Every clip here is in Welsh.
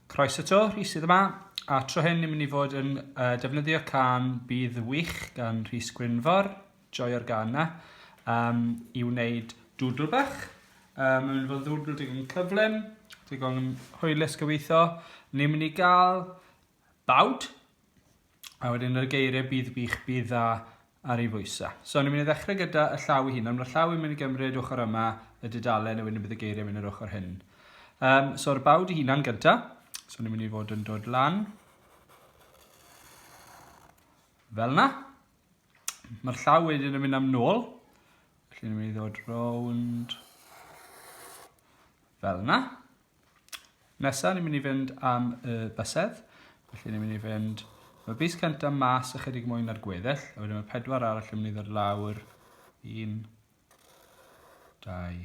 Croeso to, Rhys sydd yma. A tro hyn ni'n mynd i fod yn uh, defnyddio can Bydd Wych gan Rhys Gwynfor, joio'r gan na, um, i wneud dwdl bach. Um, mae'n fod ddwdl digon cyflym, digon hwylus gyweithio. Ni'n mynd i gael bawd. A wedyn yn y geiriau bydd bych bydd dda ar ei fwysa. So ni'n mynd i ddechrau gyda y llaw i hun, ond mae'r llaw yn mynd i gymryd ochr yma y dudalen, a wedyn bydd y geiriau yn mynd yr ochr hyn. Um, So'r bawd i hunan gynta, so ni'n mynd i fod yn dod lan. Fel na. Mae'r llaw wedyn yn mynd am nôl, felly ni'n mynd i ddod rownd fel na. Nesa, ni'n mynd i fynd am y bysedd. Felly, ni'n mynd i fynd... Mae bus cyntaf mas ychydig mwy na'r gweddill, a wedyn mae pedwar arall yn mynd i ddod lawr. Un, dau,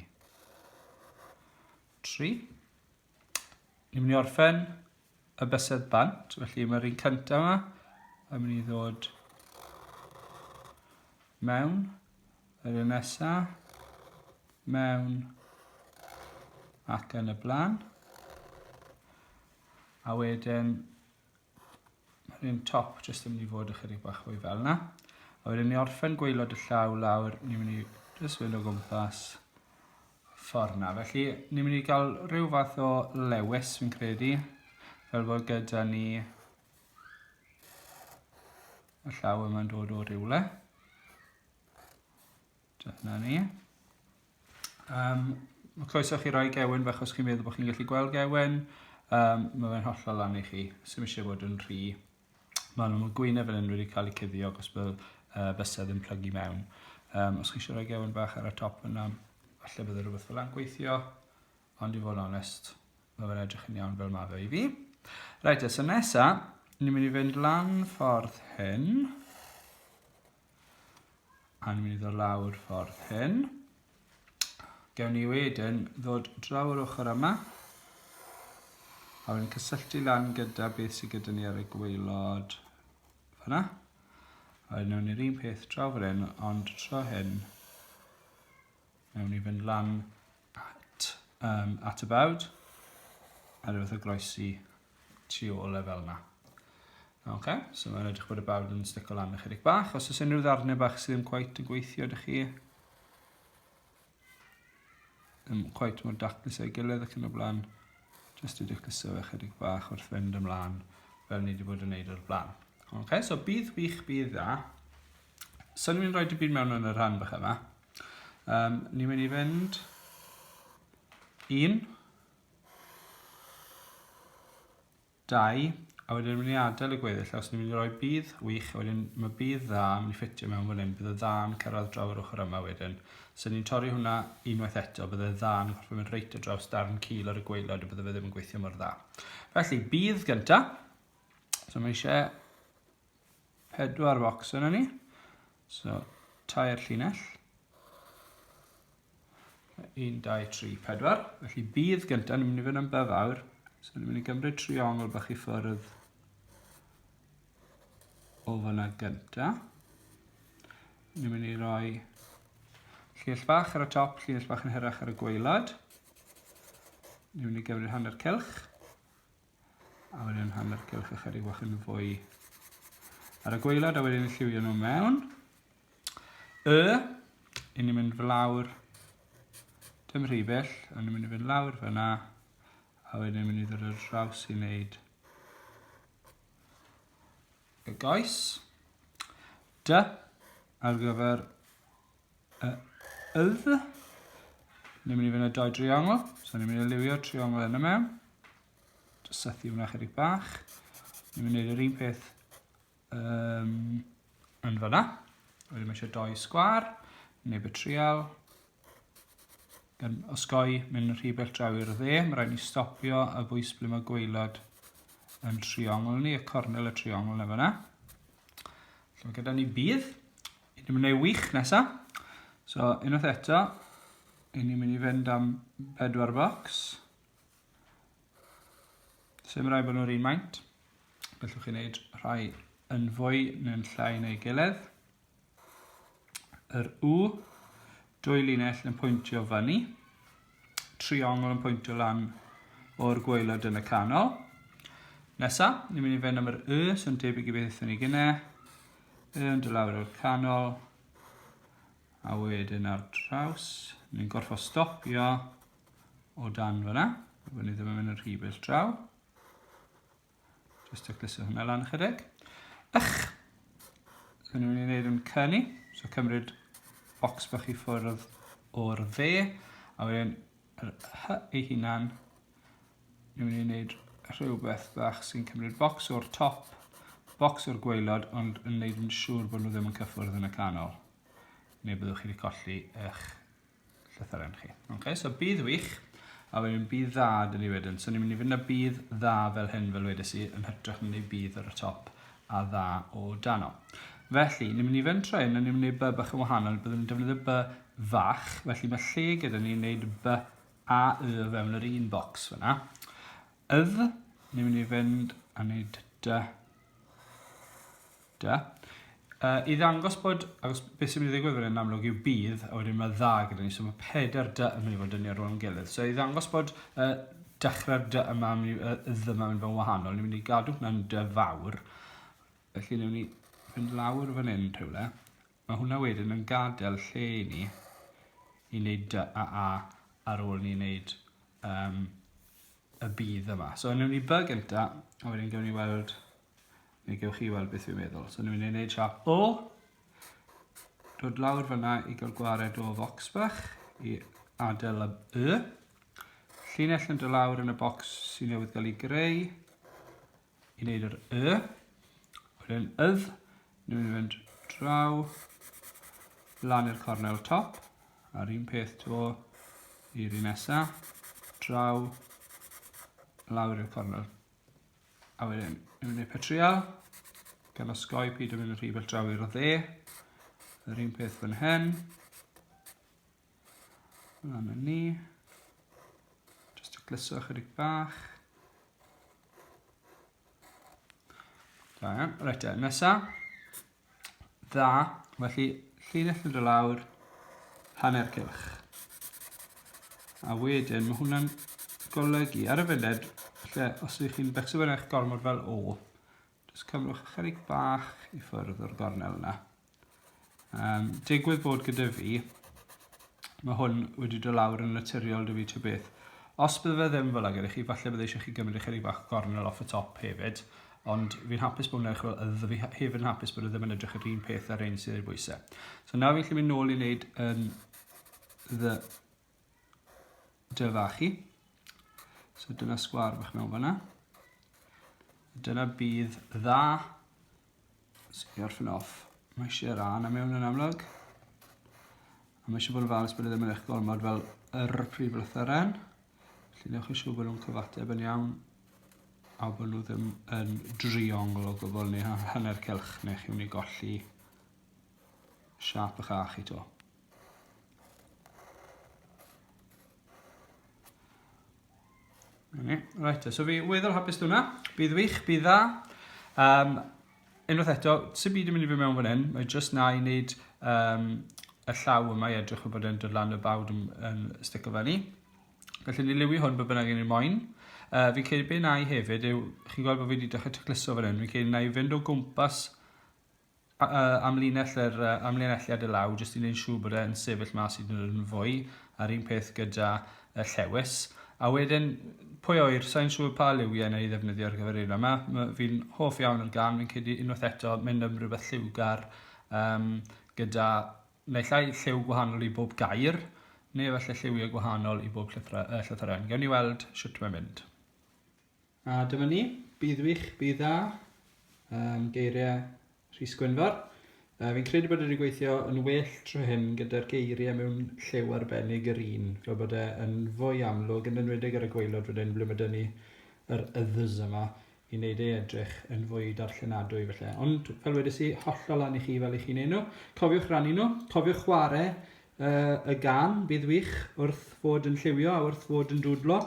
tri. Ni'n mynd i orffen y bysedd bant, felly mae'r un cyntaf yma yn mynd i ddod mewn, yr un nesa, mewn ac yn y blaen. A wedyn mae'r un top jyst yn mynd i fod ychydig bach fwy fel yna. A wedyn ni orffen gweilod y llaw lawr, ni'n mynd i jyst fynd o gwmpas ffordd na. Felly, ni'n mynd i gael rhyw fath o lewis, fi'n credu, fel bod gyda ni y llaw yma'n dod o rywle. Dyna ni. Um, mae croeso chi roi gewen fe os chi'n meddwl bod chi'n gallu gweld gewen. Um, mae fe'n hollol lan i chi. Sym eisiau bod yn rhy Maen nhw'n y gwyneb fan hyn wedi cael eu cuddio ac os bydd uh, bysedd yn plygu mewn. Um, os chi eisiau rhoi gewn bach ar y top yna, falle bydd rhywbeth fel yna'n gweithio, ond i fod yn onest, mae fe'n edrych yn iawn fel mae fe i fi. Reit, so nesa, ni'n mynd i fynd lan ffordd hyn. A ni'n mynd i ddod lawr ffordd hyn. Gewn ni wedyn ddod draw yr ochr yma. A wedyn cysylltu lan gyda beth sydd gyda ni ar y gweilod. Fyna. A wedyn ni'r un peth draw fan hyn, ond tro hyn Nawn ni fynd lan at, um, at y bawd. A rhywbeth o groesi tu ôl e fel yna. Ok, so mae'n edrych bod y bawd yn stico lan ychydig bach. Os oes unrhyw ddarnau bach sydd ddim cweit yn gweithio ydych chi, ddim cweit mor daclus ei gilydd ac yn y blaen, jyst i dacluso fe chydig bach wrth fynd ymlaen fel ni wedi bod yn neud o'r blaen. Ok, so bydd wych, bydd dda. Swn i'n rhoi dy byd mewn yn y rhan bach yma. Um, ni'n mynd i fynd un, dau, a wedyn ni'n mynd i adael y gweddill, os ni'n mynd i roi bydd wych, a wedyn mae bydd dda yn mynd i ffitio mewn fan hyn, bydd y dda yn cyrraedd draw yr ochr yma wedyn. So ni'n torri hwnna unwaith eto, bydd y dda yn gorfod mynd reit o draws darn cil ar y gweilod a bydd y fe ddim yn gweithio mor dda. Felly, bydd gyntaf, so mae eisiau pedwar focs yna ni. So, tair llinell. 1, 2, 3, 4. Felly bydd gyntaf, ni'n mynd i fynd am bydd awr. So ni'n mynd i gymryd triongl bach i ffwrdd o fyna gyntaf. Ni'n mynd i roi llinell bach ar y top, llinell bach yn hyrach ar y gweilad. Ni'n mynd i gymryd hanner cylch. A wedyn hanner cylch ychydig bach yn fwy ar y gweilad a wedyn lliwio nhw mewn. Y, i ni'n mynd flawr, dim rhy bell, ond ni'n mynd i fynd lawr fyna, a wedyn ni'n mynd i ddod ar draws i wneud y goes. Dy, ar gyfer y ydd. Ni'n mynd i fynd â dau driongl, so ni'n mynd i liwio triongl yn y mewn. Just sethu hwnna chydig bach. Ni'n mynd i wneud yr un peth um, yn fyna. Wedyn mae eisiau dau sgwar, neb y trial. Gan osgoi mynd rhy bell draw i'r dde, mae rhaid ni stopio a bwys ble mae gweilod yn triongl ni, y cornel y triongl na fyna. Felly mae gyda ni bydd, Ni'n mynd ei wych nesa. So, unwaith eto, i ni'n mynd i fynd am bedwar bocs. Sym rai bod nhw'r un maint. Gallwch chi wneud rhai yn fwy neu'n llai neu gilydd. Yr U, dwy linell yn pwyntio fyny. triongl yn pwyntio lan o'r gwaelod yn y canol. Nesa, ni'n mynd i fynd am yr Y, sy'n debyg i beth ydyn ni gynne. Y yn dod lawr o'r canol. A wedyn ar draws, ni'n gorfod stopio o dan fyna. Byddwn ni ddim yn mynd yn rhy bell draw. Just to glysu hwnna lan ychydig. Ych! Hyn ni'n gwneud yn cyni. So cymryd bocs bach i ffwrdd o'r dde. A wedyn yr hy ei hunan. Ni'n mynd i wneud rhywbeth bach sy'n cymryd bocs o'r top, bocs o'r gweilod, ond yn wneud yn siŵr bod nhw ddim yn cyffwrdd yn y canol. Neu byddwch chi wedi colli eich llythyren chi. Okay, so bydd wych, a wedyn bydd dda dyn ni wedyn. So ni'n mynd i fynd â bydd dda fel hyn fel wedes i, yn hytrach na neu bydd ar y top a dda o dano. Felly, ni'n mynd i fynd trwy hyn, a ni'n mynd i wneud by bach yn wahanol, byddwn ni'n defnyddio by fach, felly mae lle gyda ni'n gwneud by a y fewn yr un bocs fyna. Ydd, ni'n mynd i fynd a wneud dy Da. Uh, I ddangos bod, agos beth sy'n mynd i ddigwydd fan hyn amlwg yw bydd, a wedyn mae dda gyda ni, so mae pedair dy yn mynd i fod yn ni ar ôl yn gilydd. So i ddangos bod uh, dechrau'r dy yma, uh, ddy yma mynd fod yn wahanol, ni'n mynd i gadw hwnna'n dy fawr. Felly ni'n mynd i fynd lawr fan hyn rhywle. Mae hwnna wedyn yn gadael lle i ni i wneud dy a a ar ôl ni'n wneud um, y bydd yma. So ni'n mynd i by gyntaf, a wedyn gawn ni weld Mi gewch chi weld beth fi'n meddwl. So ni'n mynd i wneud siap O. Dod lawr fyna i gael gwared o fox bach i adael y Y. Llinell yn dod lawr yn y bocs sy'n newydd gael ei greu i wneud yr Y. Wedyn ydd, ni'n mynd i fynd draw lan i'r cornel top a'r un peth to i'r un nesaf draw lawr i'r cornel A wedyn, ni'n mynd i'r petriol. Gan osgoi pyd yn mynd yn rhy bell draw i'r dde. Yr un peth fan hyn. Lan yn ni. Just i glyso ychydig bach. Da iawn. Reit, e, nesa. Dda, felly llinell yn dod lawr, hanner cylch. A wedyn, mae hwnna'n golygu ar y funud, lle os ydych chi'n becso fe'n eich gormod fel o, jyst cymrwch ychydig bach i ffwrdd o'r gornel yna. Um, digwydd bod gyda fi, mae hwn wedi dod lawr yn naturiol dy fi ty beth. Os bydde fe ddim fel ag ydych chi, falle bydde eisiau chi gymryd eich eich bach gornel off y top hefyd, Ond fi'n hapus bod hwnna, chwbl, a fi hefyd yn hapus bod e ddim yn edrych yr un peth ar ein sydd ei bwysau. So nawr fi'n gallu mynd nôl i wneud yn ddy dyfa chi. So dyna sgwar fach mewn fanna. Dyna bydd dda. So i orffen off. Mae eisiau ra na mewn yn amlwg. A mae eisiau bod yn falus bod e ddim yn eich gormod fel yr prif lythyren. Felly newch chi siŵr bod nhw'n cyfateb yn iawn a bod nhw ddim yn driongl o gwbl neu hanner cylch neu chi'n mynd i golli siap y cha chi to. Right, so fi weddol hapus dwi'n Bydd wych, bydd dda. Um, unwaith eto, sy'n byd yn mynd i fi mewn fan hyn, mae jyst na i wneud um, y llaw yma i edrych o bod e'n dod lan y bawd yn, yn sticio fe ni. Felly ni liwi hwn be bynnag yn ei moyn. Uh, fi'n credu beth na i hefyd yw, chi'n gweld bod fi wedi dechrau tacluso fan hyn, fi'n credu na i fynd o gwmpas uh, amlinell yr uh, amlinelliad y law, jyst i wneud siŵr bod e'n sefyll mas i ddyn nhw'n fwy, a'r un peth gyda y llewis. A wedyn, pwy oer, sa'n siŵr pa liwiau neu ddefnyddio ar gyfer un yma. Fi'n hoff iawn o'r gan, fi'n credu unwaith eto mynd am rhywbeth lliwgar um, gyda Efallai lliw gwahanol i bob gair, neu efallai lliwiau gwahanol i bob llythra- yy, llythyren. Gewn ni weld shwt mae'n mynd. A dyma ni, bydd wych, bydd dda, um, geiriau Rhys Gwynfor. Uh, fi'n credu bod wedi gweithio yn well tro hyn gyda'r geiriau mewn lliw arbennig yr un, fel bod e yn fwy amlwg, yn enwedig ar y gweilod wedyn, ble mae dyn ni yr yddys yma. i wneud ei edrych yn fwy darllenadwy felly. Ond fel wedys i, hollol lan i chi fel i chi'n ei nhw. Cofiwch rannu nhw, cofiwch chwarae uh, y gan, bydd wych wrth fod yn lliwio a wrth fod yn dwdlo.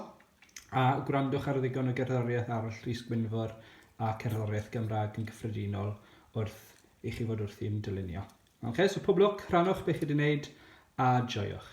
A gwrandwch ar ddigon o gerddoriaeth arall Rhys Gwynfor a cerddoriaeth Gymraeg yn gyffredinol wrth i chi fod wrthi'n dylunio. Okay, so pob lwc, rhanwch beth chi wedi wneud a joiwch.